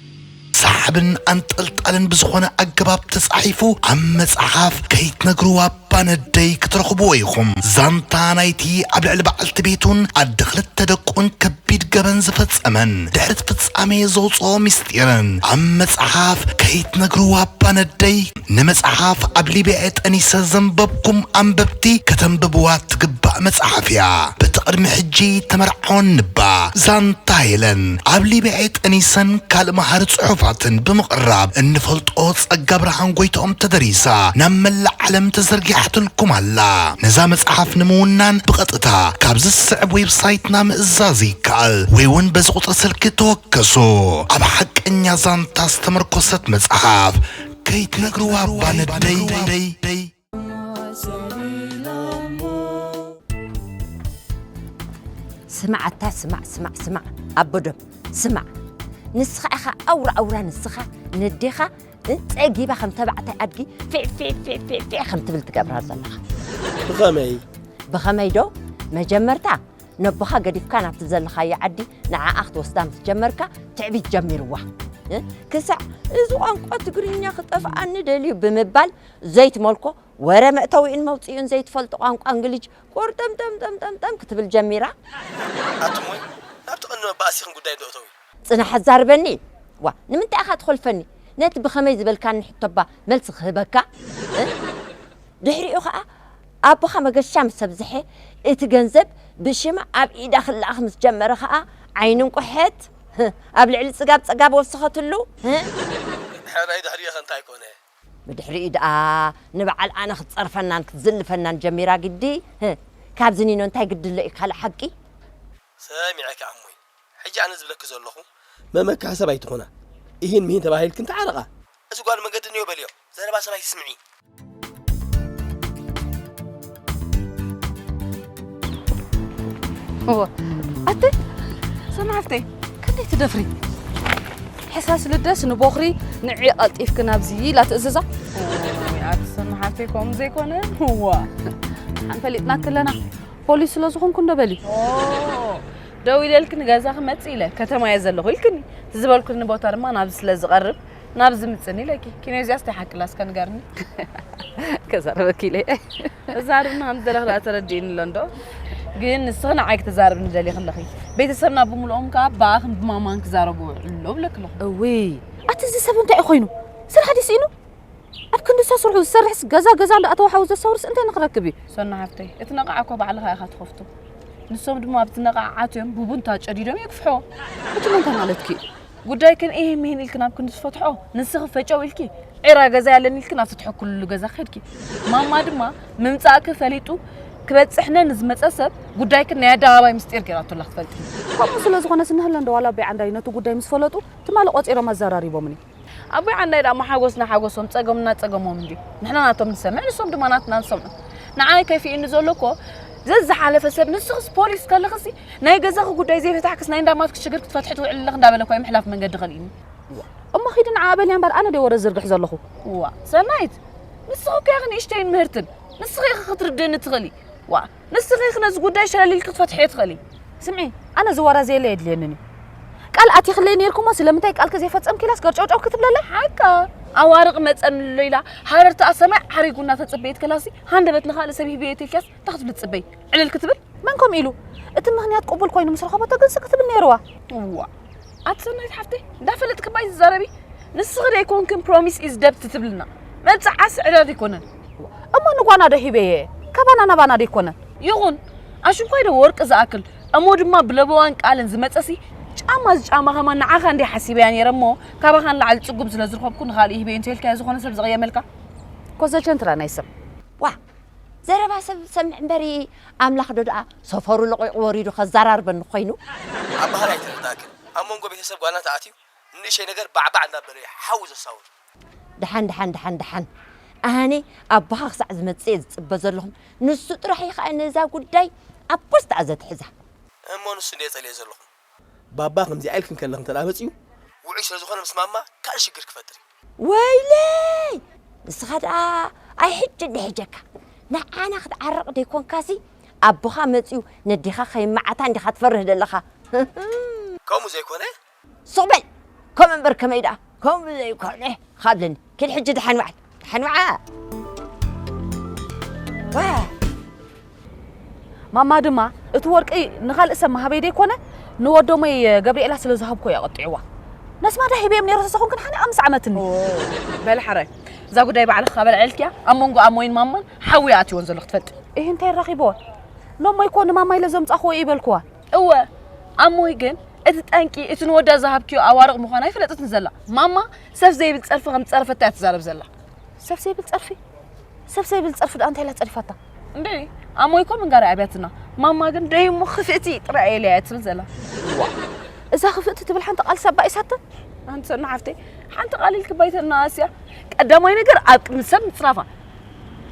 ሰሓብን ኣንጠልጣልን ብዝኾነ ኣገባብ ተጻሒፉ ኣብ መጽሓፍ ከይትነግርዋ! ኣባ ነደይ ክትረኽብዎ ኢኹም። ዛንታ ናይቲ ኣብ ልዕሊ በዓልቲ ቤቱን ኣደ ክልተ ደቁን ከቢድ ገበን ዝፈጸመን ድሕሪ'ቲ ፍጻሜ ዘውጽኦ ምስጢርን ኣብ መጽሓፍ ከይትነግሩ ኣባ ነደይ ንመጽሓፍ ኣብ ሊብያ'የ ጠኒሰ ዘንበብኩም ኣንበብቲ ከተንብብዋ እትግባእ መጽሓፍ'ያ በቲ ቅድሚ ሕጂ ተመርዓወኒ'ባ ዛንታ ሄለን ኣብ ሊብያ'የ ጠኒሰን ካልእ መሃሪ ጽሑፋትን ብምቕራብ እንፈልጦ ጸጋ ብርሃን ጎይትኦም ተደሪሳ ናብ መላእ ዓለም ተዘርጊሓትልኩም ኣላ። ነዛ መጽሓፍ ንምውናን ብቐጥታ ካብዚ ዝስዕብ ዌብሳይትና ምእዛዝ ይከኣል ወይ ውን በዚ ቁጽሪ ስልኪ ተወከሱ። ኣብ ሓቀኛ ዛንታ ዝተመርኮሰት መጽሓፍ ከይትነግርዋ ባነደይ። ስማዕ ኣታ ስማዕ ስማዕ ስማዕ ኣቦ ዶብ ስማዕ ንስኻ ኢኻ ኣውራ ኣውራ ንስኻ ነዴኻ ጸጊባ ከም ተባዕታይ ኣድጊ ፊዕፊዕፊዕፊዕ ከም ትብል ትገብራ ዘለኻ ብኸመይ ብኸመይ ዶ መጀመርታ ነቦኻ ገዲፍካ ናብቲ ዘለኻዮ ዓዲ ንዓኣ ክትወስዳ ምስ ጀመርካ ትዕቢት ጀሚርዋ ክሳዕ እዚ ቋንቋ ትግርኛ ክጠፍኣኒ ደልዩ ብምባል ዘይትመልኮ ወረ መእተዊኡን መውጽኢኡን ዘይትፈልጦ ቋንቋ እንግሊዥ ቁርጥምጥምጥምጥምጥም ክትብል ጀሚራ። ኣቱም ውን ናብቲ ቀንዲ መባኣሲኽን ጉዳይ ዶ እተዊ። ጽናሕ ኣዛርበኒ ዋእ ንምንታይ ኢኻ ትኾልፈኒ ነቲ ብኸመይ ዝበልካኒ ሕቶ'ባ መልሲ ክህበካ እ ድሕሪኡ ኸኣ ኣቦኻ መገሻ ምስ ኣብዝሐ እቲ ገንዘብ ብሽማ ኣብ ኢዳ ክለኣኽ ምስ ጀመረ ኸኣ ዓይኒ እንቁሐት እ ኣብ ልዕሊ ጽጋብ ጸጋብ ወሰኸትሉ እ። ሕራይ ድሕሪኡ'ኸ እንታይ ኮነ። ብድሕሪኡ ድኣ ንበዓል ኣነ ክትጸርፈናን ክትዝልፈናን ጀሚራ ግዲ ህህ ካብዚ ኒኖ እንታይ ግዲ ኣሎ እዩ ካልእ ሓቂ። ሰሚዐኪ ኣሞይ ሕጂ ኣነ ዝብለኪ ዘለኩ። መመክሒ ሰብ ኣይትኩና ኢሂን ምሂን ተባሂልክን ተዓረቃ። እዚ ጓል መገዲ እንዮ በልዮ ዘረባ ሰብ ኣይትስምዒ። ኣተ ሰማዕተይ ክንደይ ትደፍሪ ሕሳስ ልደስ ንቦኽሪ ንዒ ቀልጢፍኪ ናብዚ ኢላ ትእዝዛ ኣቲ ሰማሓተይ ከምኡ ዘይኮነ ዋ ኣንፈሊጥና ክለና ፖሊስ ስለ ዝኾንኩ እንዶ በሊ ደው ኢለልክኒ ገዛ ክመፅእ ኢለ ከተማ እየ ዘለኹ ኢልክኒ እቲ ዝበልኩኒ ቦታ ድማ ናብዚ ስለ ዝቐርብ ናብ ዝምፅን ኢለኪ ኪኖ እዚኣስ ናይ ሓቂ ላስካ ንገርኒ ከዛረበኪ ኢለ እዛርብና ከም ዘለኽ ደኣ ተረዲእኒ ኣሎ እንዶ ግን ንስኺ ንዓይ ክትዛረብኒ ደሊኺ ኣለኺ ቤተሰብና ብምልኦም ከዓ ብኣኽን ብማማን ክዛረቡ ውዕሎ ብለኪ ኣለኹ እውይ ኣቲ እዚ ሰብ እንታይ እዩ ኮይኑ ስራሕ ድዩ ስኢኑ ኣብ ክንዲ ሰስርሑ ዝሰርሕስ ገዛ ገዛ ኣሎ ኣተዋሓዊ ዘሰውርስ እንታይ ንክረክብ እዩ ሰና ሓፍተይ እቲ ነቓዓ እኮ ባዕልኻ ኢኻ ትኸፍቱ ንሶም ድማ ኣብቲ ነቓዓ ዓትዮም ቡቡንታ ጨዲዶም የግፍሕዎ እቲ መንታ ማለትኪ እዩ ጉዳይክን ኢሂን ሚሂን ኢልክን ኣብ ክንዲ ዝፈትሖ ንስኺ ፈጨው ኢልኪ ዒራ ገዛይ ኣለኒ ኢልክን ኣብቲ ትሕክልሉ ገዛ ከድኪ ማማ ድማ ምምጻእኪ ፈሊጡ ክበጽሕነ ንዝመጸ ሰብ ጉዳይክን ናይ ኣደባባይ ምስጢር ጌራቶ ኣላ ክትፈልጢ ከምኡ ስለ ዝኾነስ እነሀለ እንዶ ዋላ ኣቦይ ዓንዳይ ነቲ ጉዳይ ምስ ፈለጡ ትማሊ ቆጺሮም ኣዘራሪቦምኒ ኣቦይ ዓንዳይ ደኣሞ ሓጎስና ሓጎሶም ጸገምና ጸገሞም እንድዩ ንሕና ናቶም ንሰምዕ ንሶም ድማ ናትና ዝሰምዑ ንዓይ ከፊኡኒ ዘሎ እኮ ዘዝሓለፈ ሰብ ንስኽስ ፖሊስ ከለኽሲ ናይ ገዛኺ ጉዳይ ዘይፈታሕክስ ናይ እንዳ ኣማትኪ ሽግር ክትፈትሒ ትውዕሊ ኣለኺ እንዳበለ እኳ እዩ ምሕላፍ መንገዲ ከልኢኒ። እሞ ኺዲ ንዓኣ በልያ እምበር ኣነ ድየ ወረ ዝዝርግሕ ዘለኹ። እዋ ሰናይት ንስኺ እኮ ኢኺ ንእሽተይን ምህርትን ንስኺ ኢኺ ክትርድእኒ እትኽእሊ ዋ ንስኺ ኢኺ ነዚ ጉዳይ ሸለል ኢልኪ ክትፈትሕዮ ትኽእሊ። ስምዒ ኣነ እዚ ወረ ዘየለ የድልየንን እዩ ቃል ኣቲኽለይ ነይርኩ እሞ ስለምንታይ ቃልኪ ዘይፈጸምኪ ኢላስ ገርጨውጨው ክትብለለይ ሓቃ ኣዋርቕ መጸንሎ ኢላ ሃረርትኣ ሰማይ ዓሪጉ እናተጸበየት ከላሲ ሃንደበት ንኻልእ ሰብ ሂበዮ ተልኪያስ እንታይ ክትብሊ ትጽበይ ዕልል ክትብል መን ከምኡ ኢሉ እቲ ምኽንያት ቅቡል ኮይኑ ምስ ረኸበቶ ግን ስቅ ትብል ነይርዋ እዋ ኣቲ ሰናይት ሓፍተይ እንዳፈለጥክ ባይ ዝዛረቢ ንስኺ ደይኮንክን ፕሮሚስ ኢዝ ደብት ትብልና መብፅዓ ስዕረት ኣይኮነን እሞ ንጓና ዶ ሂበየ ካባና ናባና ደይኮነን ይኹን ኣሽንኳይ ዶ ወርቂ ዝኣክል እሞ ድማ ብለበዋን ቃልን ዝመፀሲ ጫማ ዝጫማ ከማን ንዓኻ እንዲይ ሓሲበያ ነይረ እሞ ካባኻ ንላዕሊ ፅጉም ስለ ዝረኸብኩ ንኻልእ ሂበየ እንተይልካዮ ዝኾነ ሰብ ዝቕየመልካ ኮዘቸንትራ ናይ ሰብ ዋ ዘረባ ሰብ ዝሰምዕ እምበሪ ኣምላኽ ዶ ደኣ ሰፈሩ ለቒቑ ወሪዱ ከዛራርበኒ ኮይኑ። ኣብ ባህሪ ኣይተረዳእክን ኣብ መንጎ ቤተሰብ ጓልና ተኣትዩ ንንእሸተይ ነገር ባዕባዕ እንዳበለ እዩ ሓዊ ዘሳውር። ደሓን ደሓን ደሓን ደሓን ኣነ ኣቦኻ ክሳዕ ዝመጽእ እየ ዝጽበ ዘለኹ ንሱ ጥራሕ እዩ ከኣ ነዛ ጉዳይ ኣብ ፖስት እያ ዘትሕዛ። እሞ ንሱ እንድየ ጸሊኤ ዘለኹ። ባባ ከምዚኣ ኢልኪ ከለኪ እንተ መጺኡ ውዑይ ስለ ዝኾነ ምስ ማማ ካልእ ሽግር ክፈጥር እዩ። ወይለይ ንስኻ ደኣ ኣይ ሕጂ እንዶ ሒጀካ ንዓና ክትዓርቕ ደይኮንካሲ ኣቦኻ መጺኡ ነዴኻ ከይመዓታ እንዲኻ ትፈርህ ደለኻ ህህም። ከምኡ ዘይኮነ። ሱቕ በል ከምኡ እምበር ከመይ ደኣ ከምኡ ዘይኮነ ኻብለኒ። ኪድ ሕጂ ደሓን ውዓል ደሓን ውዓል ማማ ድማ እቲ ወርቂ ንኻልእ ሰብ መሃበይ ደይኮነ ንወዶመይ ገብርኤላ ስለ ዝሃብኮ እያ ቐጢዕዋ ነስማዳ ሂበዮም ነይረ ተሰኹን ግን ሓነ ኣምስ ዓመትኒ በል ሓራይ እዛ ጉዳይ ባዕልኽ ካበልዐልክያ ኣብ መንጎ ኣሞይን ማማን ሓዊ ኣትዎን ዘሎ ክትፈልጥ ይህ እንታይ ራኺብዋ ኖሞ ይኮ ንማማ ኢለ ዘምፃኽዎ እዩ በልክዋ እወ ኣሞይ ግን እቲ ጠንቂ እቲ ንወዳ ዝሃብክዮ ኣዋርቕ ምዃኑ ኣይፈለጠትን ዘላ ማማ ሰብ ዘይብል ጸርፊ ከም ዝጸረፈታ እያ ትዛረብ ዘላ ሰብ ዘይብል ጸርፊ ሰብ ዘይብል ጸርፊ ደኣ እንታይ ኢላ ጸሪፋታ እንዴ ኣሞይ እኮ ምንጋር ኣብያትና ማማ ግን ደይ እሞ ክፍእቲ ጥራይ እየ ኢለያ ትብል ዘላ እዛ ክፍእቲ ትብል ሓንቲ ቃል ሳባ ኢሳተ ሓንቲ ሰና ሓፍተይ ሓንቲ ቃል ኢልክ ባይተና ኣስያ ቀዳማይ ነገር ኣብ ቅድሚ ሰብ ምጽራፋ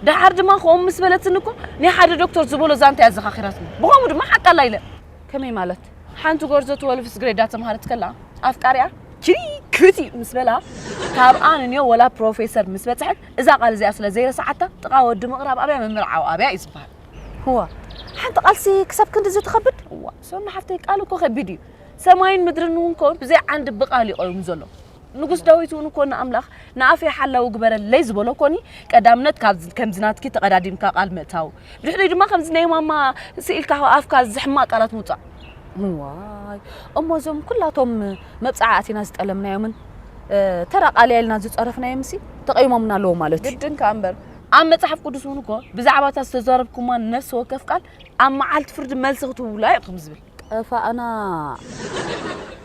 ደሓር ድማ ከምኡ ምስ በለትኒ እኮ ናይ ሓደ ዶክተር ዝበሎ ዛንታ እያ ኣዘኻኺራትኒ ብኸምኡ ድማ ሓቃ ኣላ ኢለ ከመይ ማለት ሓንቲ ጎርዞ ትወልቭስ ግሬድ ዳተምሃረት ከላ ኣፍቃሪኣ ቺሪ ክሪቲ ምስ በላ ካብኣ ንንዮ ወላ ፕሮፌሰር ምስ በጽሐት እዛ ቃል እዚኣ ስለ ዘይረሳዓታ ጥቓ ወዲ ምቕራብ ኣብያ ምምርዓው ኣብያ እዩ ዝበሃል። እዋ ሓንቲ ቃልሲ ክሳብ ክንድዚ ትኸብድ? እዋ ሶሎ ሓፍተይ ቃል እኮ ከቢድ እዩ። ሰማይን ምድርን እውን እኮ ብዘይ ዓንዲ ብቃል እዩ ቆይሙ ዘሎ። ንጉስ ዳዊት እውን እኮ ንኣምላኽ ንኣፈይ ሓላዊ ግበረለይ ዝበሎ እኮኒ ቀዳምነት ካብ ከምዚ ናትኪ ተቐዳዲምካ ቃል ምእታው ድሕሪኡ ድማ ከምዚ ናይ ማማ ስኢልካ ኣፍካ ዝሕማቕ ቃላት ምውጻእ ዋይ እሞ እዞም ኩላቶም መብጽዓ ኣቲና ዝጠለምናዮምን ተራ ቃልያ ኢልና ዝጸረፍናዮም ሲ ተቐይሞምና ኣለዎ ማለት እዩ ግድን ከኣ እምበር ኣብ መጽሓፍ ቅዱስ እውን እኮ ብዛዕባ እታ ዝተዛረብኩማ ነፍሲ ወከፍ ቃል ኣብ መዓልቲ ፍርዲ መልሲ ክትውላ ኢኹም ዝብል ጠፋእና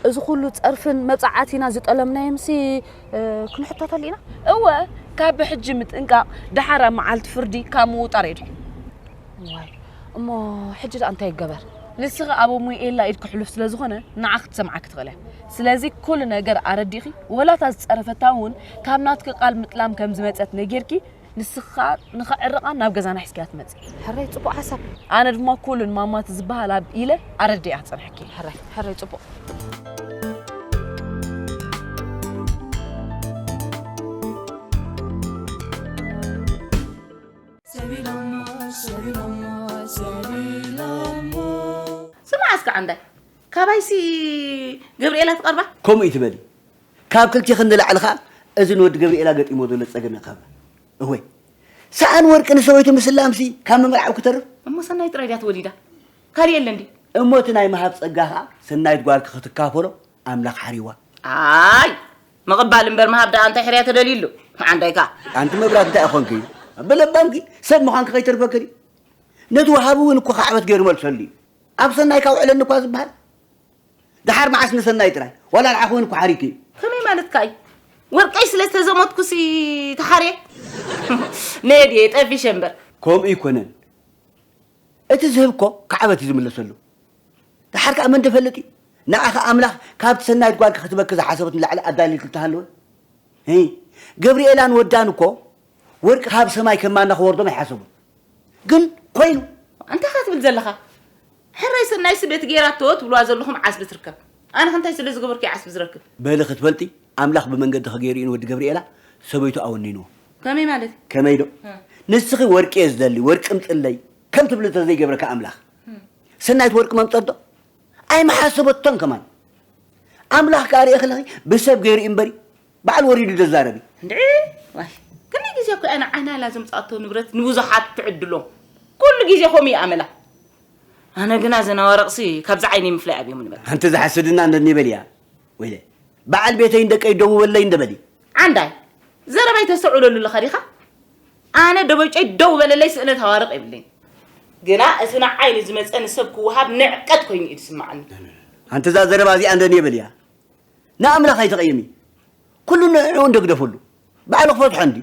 እዚ ኩሉ ጸርፍን መብጻዓቲና ዝጠለምናዮምሲ ክንሕተተሉ ኢና። እወ ካብ ብሕጂ ምጥንቃቕ ደሓር ኣብ መዓልቲ ፍርዲ ካብ ምውጣር የድሕን። ዋይ እሞ ሕጂ ደኣ እንታይ ይገበር? ንስኺ ኣብ ኣሙኤላ ኢድ ክሕሉፍ ስለ ዝኾነ ንዓ ክትሰምዓኪ ትኽእል እያ። ስለዚ ኩሉ ነገር ኣረዲእኺ ወላ እታ ዝጸረፈታ እውን ካብ ናትኪ ቃል ምጥላም ከም ዝመጸት ነጊርኪ ንስኺ ከኣ ንኸዕርቓ ናብ ገዛና ሒዝክያ ትመጺ። ሕራይ ጽቡቕ ሓሳብ። ኣነ ድማ ኩሉን ማማ ትዝበሃል ኣብ ኢለ ኣረዲኣ ክጸንሐኪ። ሕራይ ሕራይ ጽቡቕ። ስምዓ እስከ ዓንዳይ ካባይሲ ገብርኤላ ትቐርባ። ከምኡ ኢትበሊ ካብ ክልቲኽን ንላዕሊ ከኣ እዚ ንወዲ ገብሪኤላ ገጢምዎ ዘሎ ጸገም ያካብላ። እወይ ሰኣን ወርቂ ንሰበይቱ ምስላምሲ ካብ ምምርዓው ክተርፍ። እሞ ሰናይት ጥራይ ድያ ተወሊዳ ካልእ የለን ድዩ? እሞ እቲ ናይ ምሃብ ጸጋ ከኣ ሰናይት ጓልኪ ክትካፈሎ ኣምላኽ ሓርይዋ። ኣይ ምቕባል እምበር ምሃብ ደኣ እንታይ ሕርያ ተደልዩሉ መዓንዳይካ። ኣንቲ መብራት እንታይ ኮንኪ ብለባምኪ ሰብ ምዃንኪ ከይተርፈኪ ድዩ ነቲ ወሃቢ እውን እኮ ካዕበት ገይሩ መልሰሉ እዩ ኣብ ሰናይካ ውዕለኒ እኳ ዝበሃል ደሓር መዓስ ንሰናይ ጥራይ ዋላ ንዓ ኮይኑ ኩሓሪት እዩ ከመይ ማለትካ እዩ ወርቀይ ስለ ዝተዘሞትኩሲ ተሓርየ ነየ ድየ ጠፊሸ እምበር ከምኡ ይኮነን እቲ ዝህብ እኮ ክዓበት እዩ ዝምለሰሉ ደሓር ከዓ መን ደፈልጥ እዩ ንዓኻ ኣምላኽ ካብቲ ሰናይት ጓል ክትበኪ ዝሓሰበት ንላዕሊ ኣዳልዩልክ እንተሃለወ ገብርኤላን ወዳን እኮ ወርቂ ካብ ሰማይ ከማና ክወርዶም ኣይሓሰቡን ግን ኮይኑ እንታይ ካ ትብል ዘለኻ ሕራይ ሰናይ ስደት ጌራቶ ትብልዋ ዘለኹም ዓስቢ ትርከብ ኣነኸ እንታይ ስለ ዝገበርኩ እየ ዓስቢ ዝረክብ። በሊ ክትፈልጢ ኣምላኽ ብመንገድኺ ገይሩ ኢዩ ንወዲ ገብርኤላ ሰበይቱ ኣወኒንዎ። ከመይ ማለት እዩ? ከመይ ዶ ንስኺ ወርቂ እየ ዝደሊ ወርቂ እምጽለይ ከም ትብሊ እንተ ዘይገብረኪ ኣምላኽ ሰናይት ወርቂ መምጸት ዶ ኣይምሓሰበቶን ከማን ኣምላኽ ከኣ ርኤኺ ኣለኺ ብሰብ ገይሩ ኢዩ እምበሪ ባዕሉ ወሪዱ ደዛረብ እዩ። እንድዒ ዋይ ክንደይ ግዜ እኮ እያ ንዓናላ ዘምጻኣቶ ንብረት ንብዙሓት ትዕድሎ ኩሉ ግዜ ከምኡ እዩ ኣመላ ኣነ ግና እዘን ኣዋርቕሲ ካብዚ ዓይነይ ምፍላይ ኣብዮም ንበል ኣንቲ ዝሓስድና ነኒ በል እያ ወይለ በዓል ቤተይን ደቀይ ደውበለይ እንደበሊ ዓንዳይ ዘረባይ ተስተውዕለሉ ኣለኻ ዲኻ ኣነ ደበጨይ ደው በለለይ ስእነት ኣዋርቕ የብለይን ግና እቲ ንዓይ ንዝመፀ ንሰብ ክወሃብ ንዕቀት ኮይኑ እዩ ዝስማዓኒ ኣንቲ እዛ ዘረባ እዚኣ እንደኒ በል እያ ንኣምላኽ ኣይተቐየሚ ኩሉ ንዕዑ እንደግደፈሉ ባዕሉ ክፈትሖ እንድዩ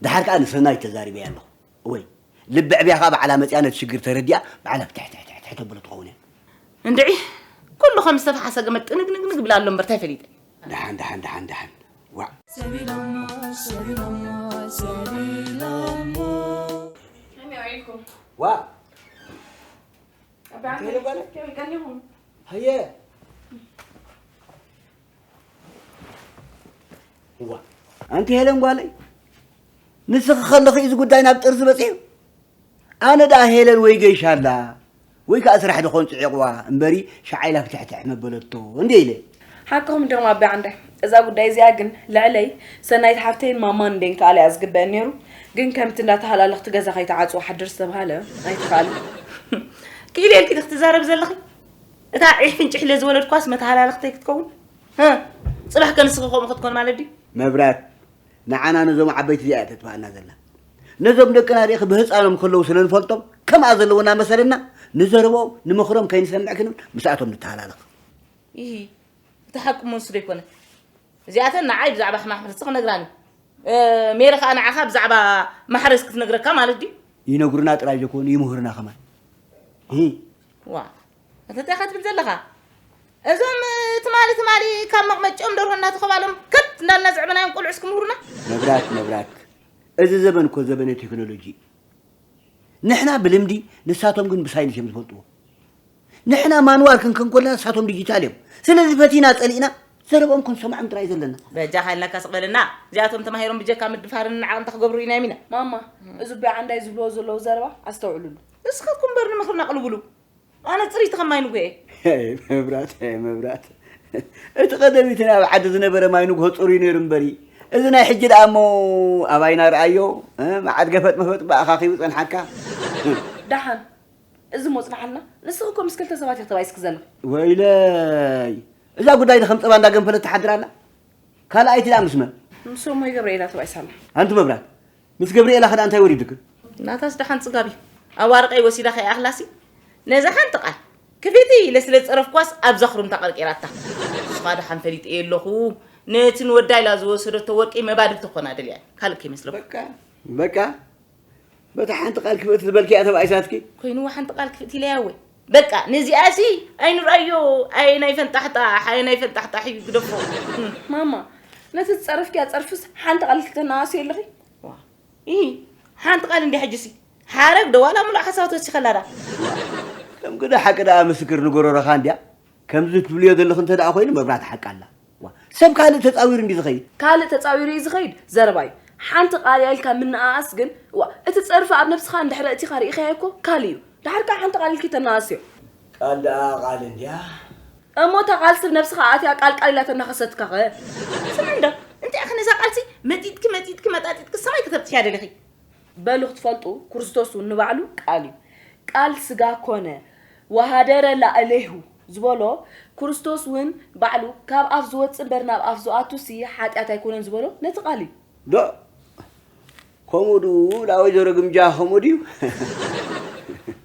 ደሓር ከኣ ንሰናይት ተዛሪበያ ኣለኹ ወይ ልቢ ዕብያ ከኣ ባዕላ መጺኣ ነቲ ሽግር ተረዲኣ ባዕላ ፍትሕትሕትሕትሕ ተብሎ ትኸውን እያ እንድዒ ኩሉ ከም ዝተፈሓሰ ገመድ ጥንግንግንግ ይብል ኣሎ እምበር ታይ ፈሊጠ ደሓን ደሓን ደሓን ደሓን ዋዕ ሰቢሎሞ ሰቢሎሞ ሰቢሎሞ ዋእ ኣንቲ ሄለን ጓለይ ንስኺ ከለኺ እዚ ጉዳይ ናብ ጥርዚ በፂሑ ኣነ ደኣ ሄለን ወይ ገይሻ ኣላ ወይ ከዓ ስራሕ ድኾን ፅዒቕዋ እምበሪ ሸዓኢላ ክትሕትሕ መበለቶ እንደ ኢለ ሓቅኹም ዲኹም ኣቢ ዓንዳይ እዛ ጉዳይ እዚኣ ግን ልዕለይ ሰናይት ሓፍተይን ማማን እንዴን ክኣለ እያ ዝግበእን ኔሩ ግን ከምቲ እንዳ ተሃላለኽቲ ገዛ ከይትዓጽው ሓድር ዝተብሃለ ኣይትክኣልን ክኢለ ኢልኪ ክትዛረብ ዘለኺ እታ ዒሕ ፍንጭሕ ኢለ ዝወለድኳስ መተሃላለኽተይ ክትከውን ህ ጽባሕ ከንስኺ ከምኡ ክትኮን ማለት ድዩ መብራት ንዓና ነዞም ዓበይቲ እዚኣ ተጥፋኣና ዘላ ነዞም ደቅና ሪእኺ ብህፃኖም ከለዉ ስለ ንፈልጦም ከምኣ ዘለውና መሰለና ንዘረብኦም ንምኽሮም ከይንሰምዕ ክንብል ምስኣቶም ንተሃላለኽ ኢሂ እቲ ሓቂ እሞ ንሱ ዶ ኣይኮነን እዚኣተን ንዓይ ብዛዕባ ሕማም ሕርሲ ክነግራኒ ሜሪ ከኣ ንዓኻ ብዛዕባ ማሕረስ ክትነግረካ ማለት ድዩ ይነግሩና ጥራይ ዘይኮኑ ይምህሩና ከማን ሂ ዋ ኣታ እንታይ ኢኻ ትብል ዘለኻ እዞም ትማሊ ትማሊ ካብ መቕመጭኦም ደርሆ እናተኸባሎም ከት እንዳልና ዝዕበናዮም ቆልዑስ ክምህሩና መብራክ መብራክ እዚ ዘበን እኮ ዘበነ ቴክኖሎጂ እዩ ንሕና ብልምዲ ንሳቶም ግን ብሳይንስ እዮም ዝፈልጥዎ ንሕና ማንዋል ክንከን ኮለና ንሳቶም ዲጂታል እዮም ስለዚ ፈቲና ጸሊእና ዘረቦም ክንሰምዖም ጥራይ ዘለና በጃ ሃይልናካ ስቐለና እዚኣቶም ተማሂሮም ብጀካ ምድፋርን ንዓቕን እንታይ ክገብሩ ኢና ኢሎም ኢና ማማ እዚ ኣቦይ ዓንዳይ ዝብልዎ ዘለዉ ዘረባ ኣስተውዕልሉ ንስኻትኩም እምበር ንምኽርና ኣቕልብሉ ኣነ ፅርይቲ ከም ማይ ንጉሄ መብራት መብራት እቲ ቀደሚት ናይ ኣብ ዓዲ ዝነበረ ማይ ንጉሆ ፅሩይ ነይሩ እምበሪ እዚ ናይ ሕጂ ደኣ እሞ ኣባይና ረኣዮ መዓት ገፈጥ መፈጥ ብኣኻኺቡ ፀንሓካ ደሓን እዚ እሞ ጽንሓልና ንስኺ እኮ ምስ ክልተ ሰባት ኢኺ ተባይስኪ ዘለኺ ወይለይ እዛ ጉዳይ ዶ ከም ጸባ እንዳ ገንፈለት ትሓድር ኣላ ካልኣይቲ ደኣ ምስ መን ምስ እሞይ ገብርኤላ ተባይሳ ኣላ ኣንቲ መብራት ምስ ገብርኤላ ከደኣ እንታይ ወሪዱክን ናታስ ደሓን ጽጋብ እዩ ኣብ ኣርቀይ ወሲዳ ከይኣኽላሲ ነዛ ሓንቲ ቃል ክፊቲ ኢለ ስለ ዝጸረፍኳስ ኣብዛ ክሩምታ ቀርቂራታ ንስኻ ደሓን ፈሊጥ እየ ኣለኹ ነቲ ንወዳ ኢላ ዝወሰደቶ ወርቂ መባድልቲ ኮና ደልያ ካልእ ከይመስለኩም በቃ በቃ በታ ሓንቲ ቃል ክፍእቲ ዝበልክያ ተባኢሳትኪ ኮይንዎ ሓንቲ ቃል ክፍእቲ ኢለያ ወይ በቃ ነዚኣሲ ኣይንርኣዮ ኣየ ናይ ፈንጣሕጣሕ ኣየ ናይ ፈንጣሕጣሕ እዩ ግደፎ ማማ ነቲ ዝፀረፍክያ ፀርፍስ ሓንቲ ቃል ክተናኣስዮ ኣለኺ ይህ ሓንቲ ቃል እንዲ ሕጅሲ ሓረግ ደዋላ ሙሉእ ሓሳባት ወሲኸላዳ ከም ግደ ሓቂ ደኣ ምስክር ንጎረረኻ እንድያ ከምዚ ትብልዮ ዘለኺ እንተ ደኣ ኮይኑ መብራህቲ ሓቂ ኣላ። እዋ ሰብ ካልእ ተጻዊሩ እንድዩ ዝኸይድ። ካልእ ተጻዊሩ እዩ ዝኸይድ ዘረባ እዩ። ሓንቲ ቃልያ ኢልካ ምነኣኣስ ግን እዋ እቲ ጸርፊ ኣብ ነብስኻ እንድሕሪ ኣእቲኻ ርኢኻዮ እኮ ካልእ እዩ። ደሓር ከኣ ሓንቲ ቃል ኢልኪ ተነኣኣስዮ። ቃል ደኣ ቃል እንድያ። እሞ እታ ቃልሲ ብ ነብስኻ ኣእትያ ቃል ቃል ኢላ ተናኸሰትካኸ? ስምዒ እንዶ እንታይ ኢኺ ነዛ ቃልሲ መጢጥኪ መጢጥኪ መጣጢጥኪ ሰማይ ከተብጽሕያ ደሊኺ? በሉ ክትፈልጡ ክርስቶስ እውን ንባዕሉ ቃል እዩ ቃል ስጋ ኮነ ወሃደረ ላእሌሁ ዝበሎ ክርስቶስ እውን ባዕሉ ካብ ኣፍ ዝወፅእ እምበር ናብ ኣፍ ዝኣቱሲ ሓጢኣት ኣይኮነን ዝበሎ ነቲ ቃል እዩ። ዶ ከምኡ ድኡ ላወይዘሮ ግምጃ ከምኡ ድዩ?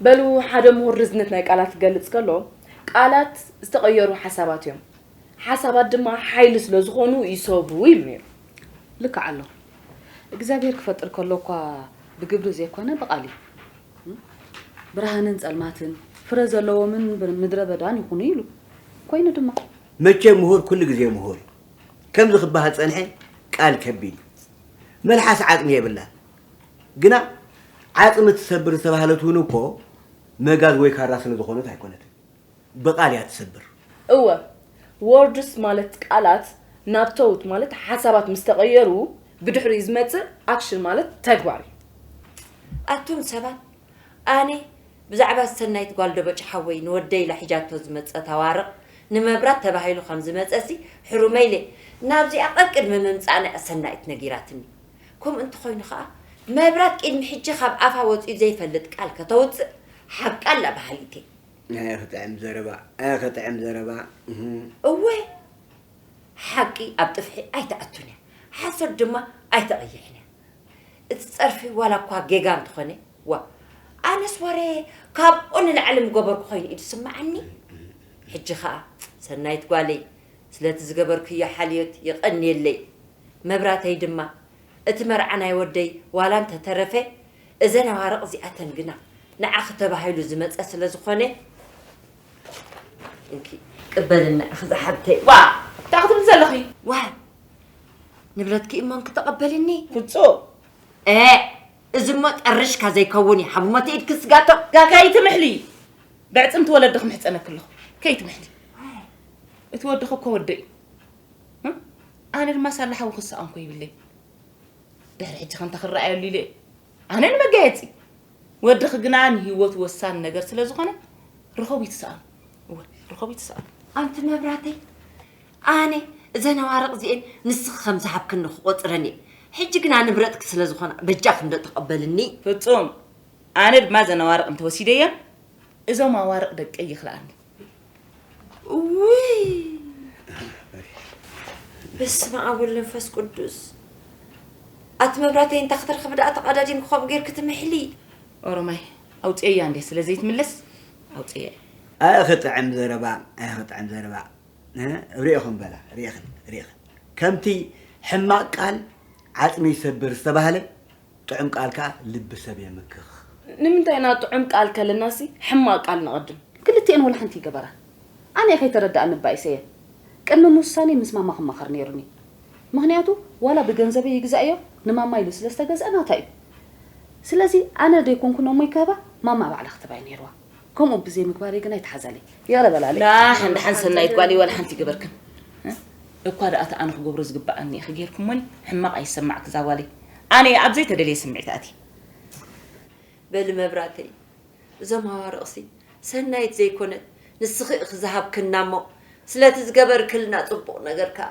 በሉ ሓደ ምሁር ርዝነት ናይ ቃላት ክገልጽ ከሎ ቃላት ዝተቐየሩ ሓሳባት እዮም፣ ሓሳባት ድማ ሓይሊ ስለ ዝኾኑ ይሰቡ ይብል ነይሩ። ልክዕ ኣሎ። እግዚኣብሄር ክፈጥር ከሎ እኳ ብግብሪ ዘይኮነ ብቓል እዩ። ብርሃንን ጸልማትን፣ ፍረ ዘለዎምን ምድረ በዳን ይኹኑ ኢሉ። ኮይኑ ድማ። መቸም ምሁር ኩሉ ግዜ ምሁር እዩ። ከምዚ ክበሃል ዝጸንሐ ቃል ከቢድ እዩ። መልሓስ ዓጽሚ የብላን። ግና ዓጽሚ ትሰብር ዝተባህለት ውን እኮ መጋዝ ወይ ካራ ስለ ዝኾነት ኣይኮነትን ብቃል እያ ትሰብር። እወ ዎርድስ ማለት ቃላት ናብ ቶውት ማለት ሓሳባት ምስ ተቐየሩ ብድሕሪኡ ዝመጽእ ኣክሽን ማለት ተግባር እዩ። ኣቱም ሰባት ኣነ ብዛዕባ ሰናይት ጓል ደበጭ ሓወይ ንወደይ ኢላ ሒጃቶ ዝመጸት ኣዋርቅ ንመብራት ተባሂሉ ከም ዝመጸሲ ሕሩመይ ኢለ ናብዚኣ ቀቅድሚ ምምጻኣና እያ ሰናይት ነጊራትኒ ከምኡ እንተኾይኑ ከኣ መብራት ቂድሚ ሕጂ ካብ ኣፋ ወጺኡ ዘይፈልጥ ቃል ከተውጽእ ሓቃ ኣላ በሃሊት እየ። ኣይ ክጥዕም ዘረባ ኣይ ክጥዕም ዘረባ እህ። እወ ሓቂ ኣብ ጥፍሒ ኣይትኣቱን እያ ሓሶት ድማ ኣይተቐይሕን እያ እቲ ጸርፊ ዋላ እኳ ጌጋ እንተኾነ ዋእ ኣነስ ወረ ካብኡ ንላዕሊ ምገበርኩ ኮይኑ እዩ ዝስምዓኒ ሕጂ ከኣ ሰናይት ጓለይ ስለቲ ዝገበርክዮ ሓልዮት የቐንየለይ መብራተይ ድማ እቲ መርዓ ናይ ወደይ ዋላ እንተ ተረፈ እዘን ኣዋርቅ እዚኣተን ግና ንዓኺ ተባሂሉ ዝመጸ ስለ ዝኾነ እንኪ ቅበሊ ንዓኺ ዝሓብተይ። ዋእ እንታይ ክትብሊ ዘለኺ? ዋይ ንብረትኪ እሞ እንኪ ተቀበልኒ። ፍጹም ኤእ እዚ እሞ ጠርሽካ ዘይከውን እዩ ሃብሞ እቲ ኢድኪ ስጋቶ። እታ ከይትምሕሊ በዕጽምቲ ወለዲ ክምሕጸነኪ ኣለኹ ከይትምሕሊ እቲ ወድኺ እኮ ወደይ እዩ። ኣነ ድማ ሳላ ሓዊ ክሰኣን ኮ ይብለይ ድሕሪ ሕጂ ከንታ ክረኣየሉ ኢለ ኣነ ንመጋየፂ ወድኺ ግና ንሂወቱ ወሳኒ ነገር ስለ ዝኾነ ርኸቡ ይትሰኣኑ እወ ርኸቡ ይትሰኣኑ ኣንቲ መብራተይ ኣነ እዘን ኣዋርቕ እዚኤን ንስኺ ከም ዝሃብክኒ ክቆፅረን እየ ሕጂ ግና ንብረትኪ ስለ ዝኾና በጃኺ እንዶ ተቐበልኒ ፍፁም ኣነ ድማ እዘን ኣዋርቕ እንተወሲደየን እዞም ኣዋርቕ ደቀይ ይኽልኣኒ ውይ በስመ ኣብ ወልድ መንፈስ ቅዱስ ኣቲ መብራተይ እንታ ክትረኽቢ ደኣ ተቐዳዲምኪ ከምኡ ጌርኪ ትምሕሊ ኦሮማይ ኣውፅኤያ እንዴ ስለ ዘይትምለስ ኣውፅኤያ ኣይ ክጥዕም ዘረባ ኣይ ክጥዕም ዘረባ ርኢኹም በላ ርኢኽን ርኢኽን ከምቲ ሕማቅ ቃል ዓጽሚ ይሰብር ዝተባህለ ጥዑም ቃልካ ልቢ ሰብ የምክኽ። ንምንታይ ኢና ጥዑም ቃል ከለናሲ ሕማቅ ቃል ነቀድም? ክልቲኤን ወላ ሓንቲ ይገበራ ኣነ ከይተረደኣኒ እባ ኢሰየ ቅድሚ ምውሳነይ ምስ ማማ ክማኸር ነይሩኒ ምኽንያቱ ዋላ ብገንዘበይ ይግዛእዮ ንማማ ኢሉ ስለ ዝተገዝኣ ናታ እዩ ስለዚ ኣነ ደይኮንኩ ነሞይ ክህባ ማማ ባዕላ ክትህባዩ ነይርዋ ከምኡ ብዘይ ምግባረይ ግን ኣይተሓዛለይ ይቕረ በላለይ ላሕ እንዳሓን ሰናይት ጓለይ ዋላ ሓንቲ ይገበርክን እኳ ደኣ እቲ ኣነ ክገብሮ ዝግብኣኒ ኢኺ ጌርኩሞኒ ሕማቕ ኣይሰማዕክ እዛ ጓለይ ኣነ እየ ኣብ ዘይተደልየ ስምዒት ኣትየ በሊ መብራተይ እዞም ኣዋርቕሲ ሰናይት ዘይኮነት ንስኺ ኢኺ ዝሃብክና እሞ ስለቲ ዝገበርክልና ጽቡቕ ነገር ከኣ